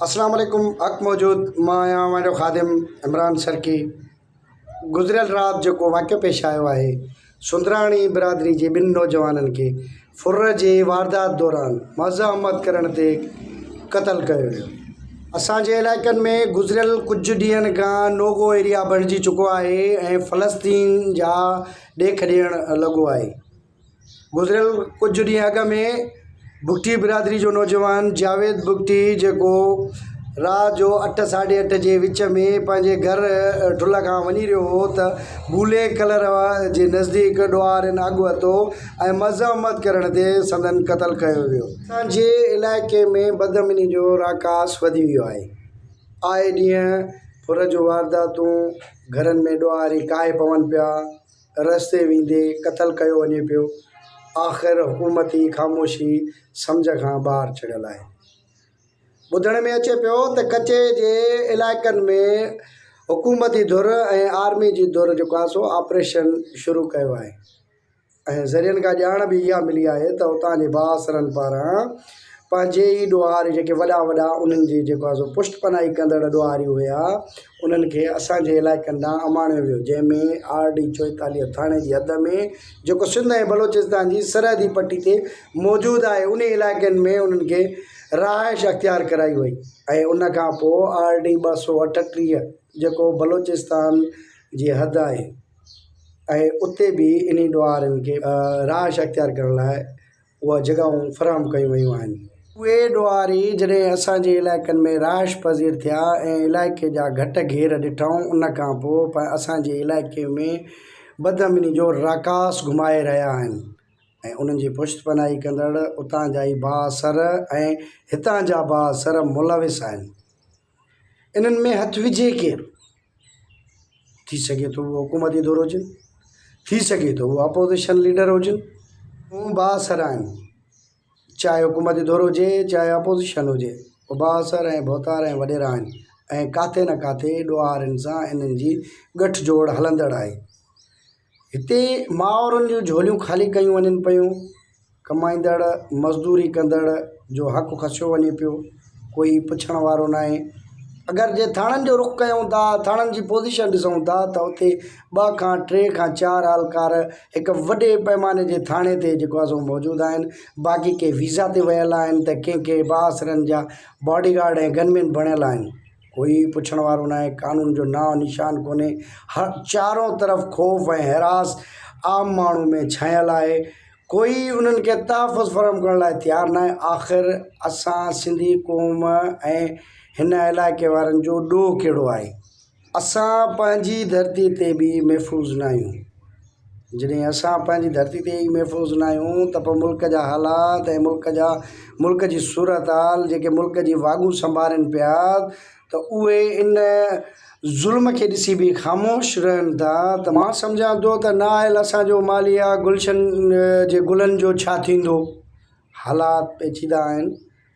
اسلام عليڪم حق موجود مان آهيان اوهان جو خادم عمران سرڪي گذريل رات جيڪو واقعو پيش آيو آهي سندراڻي برادري جي ٻن نوجوانن کي ڦر جي واردات دوران مزه احمد ڪرڻ تي قتل ڪيو ويو اسان جي علائقن ۾ گذريل ڪجهه ڏينهن کان نو گو ايريا بڻجي چڪو آهي ۽ فلسطين جا ڏيک ڏيڻ لڳو آهي گذريل ڪجهه ڏينهن اڳ ۾ بگٽي برادري جو نوجوان جاويد بگٽي جيڪو رات جو اٺ ساڍي اٺ جي وچ ۾ پنهنجي گهر ٺلهه کان وڃي رهيو هو ته بولي ڪلر جي نزديڪ ڏوهارين اڳ وتو ۽ مذمت ڪرڻ تي سندن قتل ڪيو ويو. اسان جي علائقي ۾ بدامني جو راڪاس وڌي ويو آهي، آء ڏينهن ڦر جون وارداتون، گهرن ۾ ڏوهاري ڪاهي پون پيا، رستي ويندي قتل ڪيو وڃي پيو. آخر حڪومت ئي خاموشي سمجهه کان ٻاهر ڇڙيل آهي. ٻڌڻ ۾ اچي پيو ته ڪچي جي علائقن ۾ حڪومتي ڌر ۽ آرمي جي ڌر جيڪو آهي سو آپريشن شروع ڪيو آهي ۽ ذريعن کان ڄاڻ به اها ملي آهي ته اتان جي بااثرن پاران پنهنجي ئي ڏوهاري جيڪي وڏا وڏا انهن جي جيڪو آهي سو پشت پناهي ڪندڙ ڏوهاري هيا انهن کي اسان جي علائقن ڏانهن اماڻيو ويو، جنهن ۾ آر ڊي چوئيتاليهه ٿاڻي جي حد ۾ جيڪو سنڌ ۽ بلوچستان جي سرحدي پٽي تي موجود آهي، انهي علائقن ۾ انهن کي رهائش اختيار ڪرائي وئي ۽ ان کان پوء آر ڊي ٻه سؤ اٺٽيهه جيڪو بلوچستان جي حد آهي ۽ اتي به انهي ڏوهارين کي رهائش اختيار ڪرڻ لاء اهي جڳهون فراهم ڪيون ويون آهن. اهي ڏوهاري جڏهن اسان جي علائقن ۾ رهائش پذير ٿيا ۽ علائقي جا گهٽ گهير ڏٺائون ان کان پوء پڻ اسان جي علائقي ۾ بدامني جو راڪاس گهمائي رهيا آهن ۽ انهن جي پشت پناهي ڪندڙ اتان جا ئي بااثر ۽ هتان جا بااثر ملوث آهن. انهن ۾ هٿ وجهي ڪير؟ ٿي سگهي ٿو هو حڪومتي دور هجن، ٿي سگهي ٿو هو اپوزيشن ليڊر هجن، هو بااثر آهن، چاهي حڪومتي دور هجي، چاهي اپوزيشن هجي، هو بااثر ۽ ڀوتار ۽ وڏيرا آهن ۽ ڪاٿي نه ڪاٿي ڏوهارين سان انهن جي ڳٺجوڙ هلندڙ آهي. هتي مائورن جون جهوليون خالي ڪيون وڃن پيون، ڪمائيندڙ، مزدوري ڪندڙ جو حق کسيو وڃي پيو، ڪوئي پڇڻ وارو ناهي. اگر جي ٿاڻن جو رخ ڪيون ٿا، ٿاڻن جي پوزيشن ڏسون ٿا ته اتي ٻه کان ٽي کان چار اهلڪار هڪ وڏي پئماني جي ٿاڻي تي جيڪو آهي سو موجود آهن، باقي ڪي ويزا تي ويل آهن ته ڪي ڪي بااثرن جا باڊي گارڊ ۽ گنمين بڻيل آهن. ڪوئي پڇڻ وارو ناهي قانون جو نانء نشان ڪونهي هر چارو طرف خوف ۽ حراس عام ماڻهو ۾ ڇانيل آهي ڪوئي انهن کي تحفظ فراهم ڪرڻ لاء تيار ناهي آخر اسان سنڌي قوم ۽ هن علائقي وارن جو ڏوهه ڪهڙو آهي اسان پنهنجي ڌرتي تي به محفوظ ناهيون جڏهن اسان پنهنجي ڌرتي تي ئي محفوظ نه آهيون ته پوء ملڪ جا حالات ۽ ملڪ جا ملڪ جي صورتحال جيڪي ملڪ جي واڳون سنڀارين پيا ته اهي ان ظلم کي ڏسي به خاموش رهن ٿا ته مان سمجهان ٿو ته نه آيل اسان جو ماليه گلشن جي گلن جو ڇا ٿيندو؟ حالات پيچيده آهن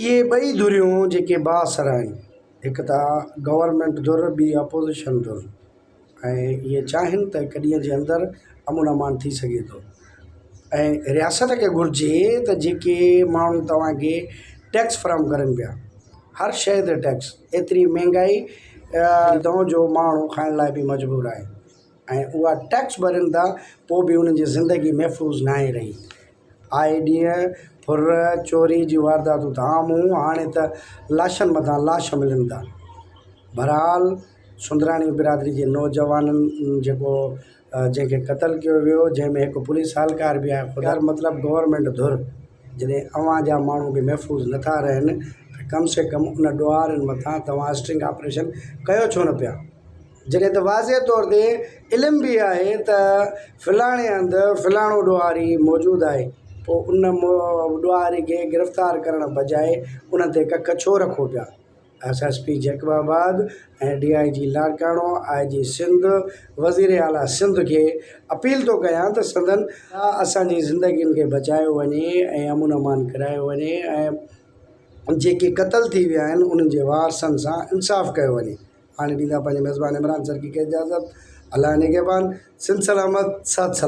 اهي ٻئي ڌريون جيڪي بااثر آهن، هڪ ته گورنمينٽ ڌر ٻي اپوزيشن ڌر ۽ اهي چاهين ته هڪ ڏينهن جي اندر امن امان ٿي سگهي ٿو ۽ رياست کي گهرجي ته جيڪي ماڻهو توهانکي ٽيڪس فراهم ڪرن پيا هر شيء تي ٽيڪس ايتري مهنگائي اتان جو ماڻهو کائڻ لاء به مجبور آهي ۽ اها ٽيڪس ڀرين ٿا پوء به انهن جي زندگي محفوظ ناهي رهي آهي ڏينهن ڦر چوري جي وارداتون ته عام هون هاڻي ته لاشن مٿان لاش ملن ٿا بھرحال سندراڻي برادري جي نوجوانن جيڪو جنهن کي قتل ڪيو ويو جنهن ۾ هڪ پوليس اھلڪار به آهي خدا مطلب گورنمينٽ ڌر جڏهن اوهان جا ماڻهو به محفوظ نٿا رهن ته ڪم سي ڪم ان ڏوهارين مٿان توهان اسٽرنگ آپريشن ڪيو ڇو نه پيا. جڏهن ته واضح طور تي علم به آهي ته فلاڻي هنڌ فلاڻو ڏوهاري موجود آهي پوء ان ڏوهاري کي گرفتار ڪرڻ بجاء ان تي ڪک ڇو رکو پيا؟ S S P Jacobabad ۽ D I G Larkana, I G Sindh, وزير اعليٰ سنڌ کي اپيل ٿو ڪيان ته سندن اسان جي زندگين کي بچايو وڃي ۽ امن امان ڪرايو وڃي ۽ جيڪي قتل ٿي ويا آهن انهن جي وارثن سان انصاف ڪيو وڃي. هاڻي ڏيندا پنهنجي ميزبان عمران سرڪي کي اجازت الله نگهبان سنڌ سلامت ساٿ سلام